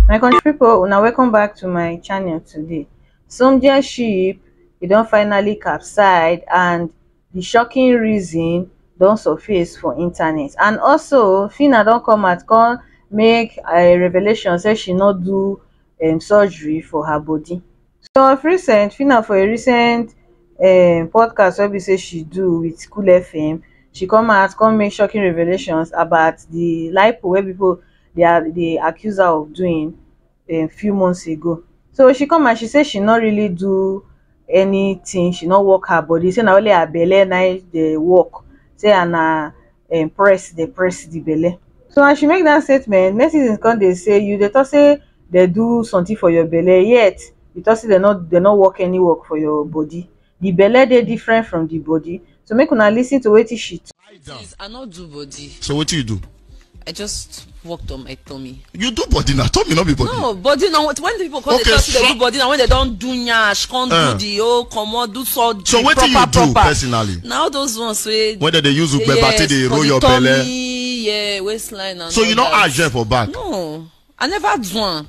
my country people, una welcome back to my channel today Somdia ship e don finally capsize and the shocking reason don surface for internet and also Fina don come out come make a revelation say she no do um, surgery for her body so of recent phyna for a recent um podcast wey be say she do with cool fm she come out come make shocking revelations about the lipo wey people dey um dey accuse her of doing um few months ago so she come out she say she no really do anything she no work her body say na only her belle na him dey work say and na um press dey press the belle. So as she make that statement, netizens come dey say you dey talk say they do something for your belle yet you talk say they no they no work any work for your body. The belle dey different from the body. So make una listen to wetin she talk. Lie down. Please, I not do body. So wetin you do? I just work to my tummy. you do body na tummy no be body. no body na when people come okay, dey talk say they do body na when they don do nyash come uh, do eh. the whole comot do so the so proper proper. so wetin you do personally. na all those ones wey. when dem dey use ugbeba yes, take dey roll your belle. yes for the tummy yeah, waistline and so all that. so you no add gel for back. no i never do am.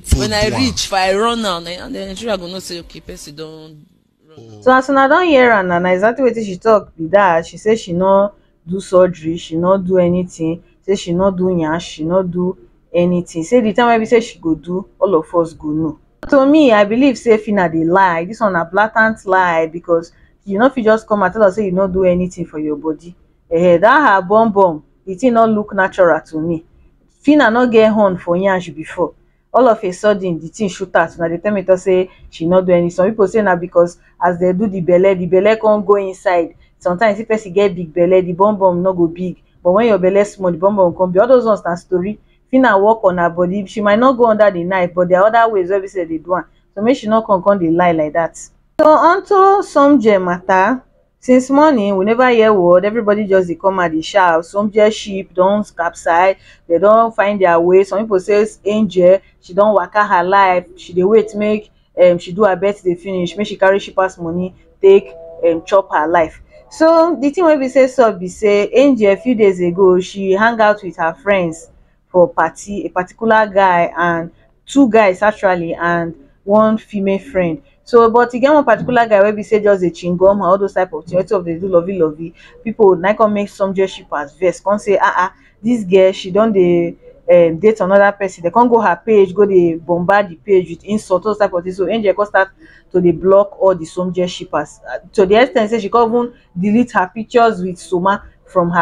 when i reach if i run now na the nigeria go know say okay person don run. so as una don hear am na na exactly wetin she talk be that she say she no do surgery she no do anything say she no do yansh she no do anything say the time wey be say she go do all of us go know to me i believe say fina dey lie this one na blatant lie because you no fit just come and tell us say you no do anything for your body eh that her bum bum the thing no look natural to me Phyna no get horn for yansh before, all of a sudden the thing shoot out, una dey tell me talk say she no do any, some people say na because as dem do the belle, the belle come go inside, sometimes if person get big belle the bum bum no go big, but when your belle small the bum bum go come big, all those ones na story, Phyna work on her body, she might not go under the knife but there are other ways wey be say dem dey do am, so make she no come come dey lie like that. So onto Somjee matter, Since morning we never hear word, everybody just dey come and dey shout, some dear ship don capsize, dem don find their way, some people say angel she don waka her life, she dey wait make um she do her birthday finish make she carry shippers money take um chop her life. So the thing wey be say sup be say Angel few days ago she hang out with her friends for party a particular guy and two guys actually and one female friend so but e get one particular guy wey be say just dey chingom all those type of thing wetin of dey do lovey lovey people na come make some just ship as vex come say ah ah this girl she don dey um date another person they come go her page go dey bombard the page with insult all those type of thing so angel come start to dey block all the some just shippers to the ex ten t say she come even delete her pictures with soma from her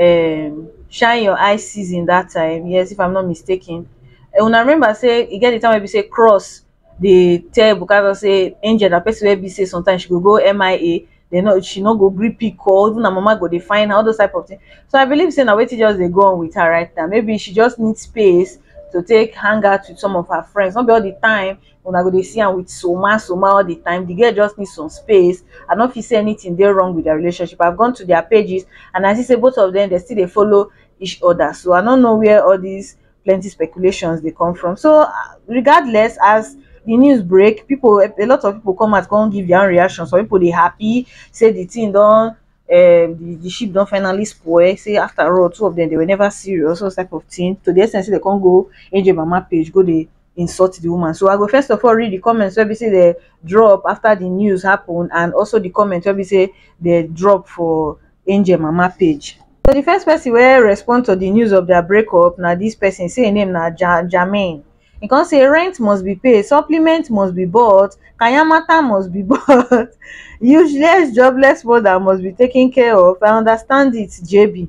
um shine your eye season that time yes if I'm not mistaken um una remember sey e get the time wey be sey cross dey tell Ebuka talk sey angel na person wey be sey sometimes she go go MIA dey no she no go gree pick call even her mama go dey find her all those type of thing so I believe sey na wetin just dey go on with her right now maybe she just need space to take hang out with some of her friends no be all the time una go dey see am with soma soma all the time the girl just need some space i no fit say anything dey wrong with their relationship i've gone to their pages and i see say both of them dey still dey follow each other so i no know where all these plenty speculations dey come from so uh, regardless as the news break people a lot of people come out come give their own reaction some people dey happy say the thing don um, the, the ship don finally spoil say after all two of them they were never serious all type of thing to the extent say they come go angel mama page go dey insult the woman. So I go first of all read the comments wey be say they drop after the news happen and also the comments wey be say they drop for Angel Mama page. So the first person wey respond to the news of their breakup na this person say im name na ja Jermaine. He come say rent must be paid, supplement must be bought, kayamata must be bought, useless jobless mother must be taken care of, I understand it JB.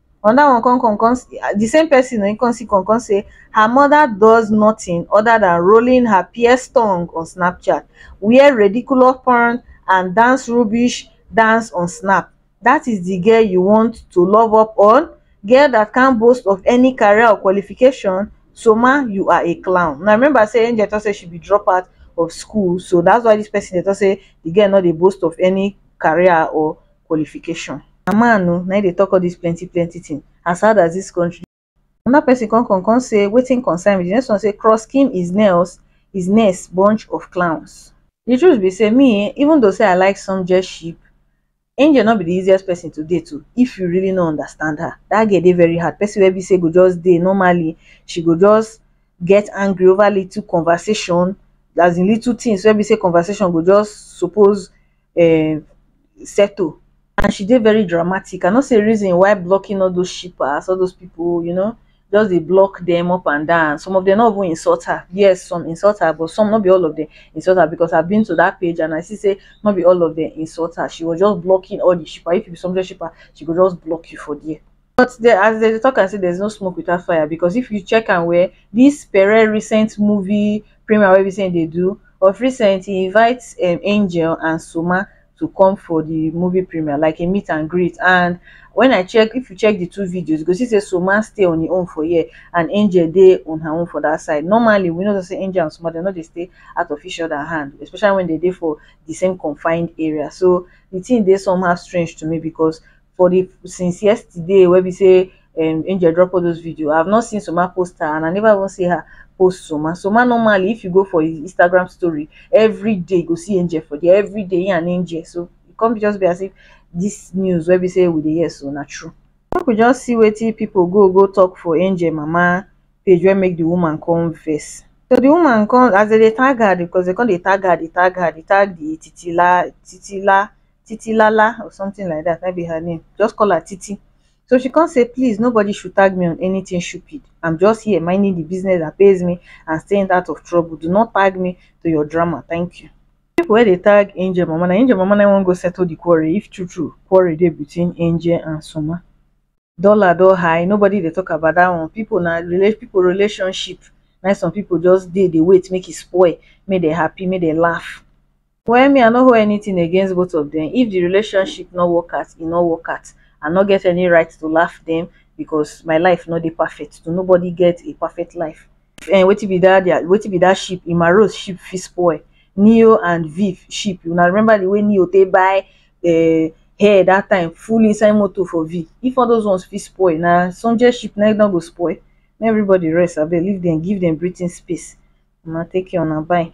another one come come come the same person um come still come come say her mother does nothing other than rolling her pierced tongue on Snapchat, wear ridiculous pant and dance rubbish dance on Snap. That is the girl you want to love up on? Girl that can't boast of any career or qualification? Soma, you are a clown. Now remember say Angel talk say she be dropout of school so that's why this person dey talk say the girl no dey boast of any career or qualification. Na man o na im dey talk all this plenty plenty thing as hard as this country another person come come come say wetin concern me the next one say cross skin is nails is nails bunch of clowns the truth be say me um even though say I like some jet ship angel no be the easiest person to date o if you really no understand her that girl dey very hard person wey be say go just dey normally she go just get angry over little conversation as in little things wey be say conversation go just suppose um settle and she dey very dramatic i no see a reason why blocking all those shippers all those people you know just dey block them up and down some of them no even insult her yes some insult her but some no be all of them insult her because i've been to that page and i see say no be all of them insult her she was just blocking all the shipper if you be sumptuous shipper she go just block you for there But de as dem dey talk am say there's no smoke without fire because if you check am well, this Pere recent movie premiere wey be say he dey do, of recent he invite um Angel and Soma to come for the movie premiere like a meet and greet and when I check, if you check the two videos you go see say Soma stay on him own for here and Angel dey on her own for that side. Normally we know say Angel and Soma dem no dey stay out of each other hand especially when dem dey for the same confined area so the thing dey somehow strange to me because for the since yesterday wey be say um angel drop all those video i have not seen soma post her and i never even see her post soma soma normally if you go for his instagram story every day you go see angel for there every day he and angel so e come be just be as if this news wey be say we dey hear so na true make we just see wetin people go go talk for angel mama page wey make the woman come vex so the woman come as dem dey tag her because dem come dey tag her dey tag her dey tag the titila titila Titilala or something like that, na im be her name, just call her Titi. So she come say, please nobody should tag me on anything stupid, I'm just here minding the business that pays me and staying out of trouble, do not tag me to your drama, thank you. People wey dey tag Angel mama, na Angel mama na im wan go settle the quarrel if true true quarrel dey between Angel and Soma. Dollar don high, nobody dey talk about that one, people na rela people relationship na im some people just dey dey wait make e spoil, make dem happy, make dem laugh. Well me I no hold anything against both of them if the relationship no work out e no work out I no get any right to laugh them because my life no dey perfect to nobody get a perfect life eh, wetin be that their wetin be that ship Emma Rose ship fit spoil Neo and Viv ship una remember the way Neo take buy eh, hair that time full inside motor for Viv if all those ones fit spoil na Sonjay ship na no go spoil make everybody rest abeg leave them give them breathing space una take care una bye.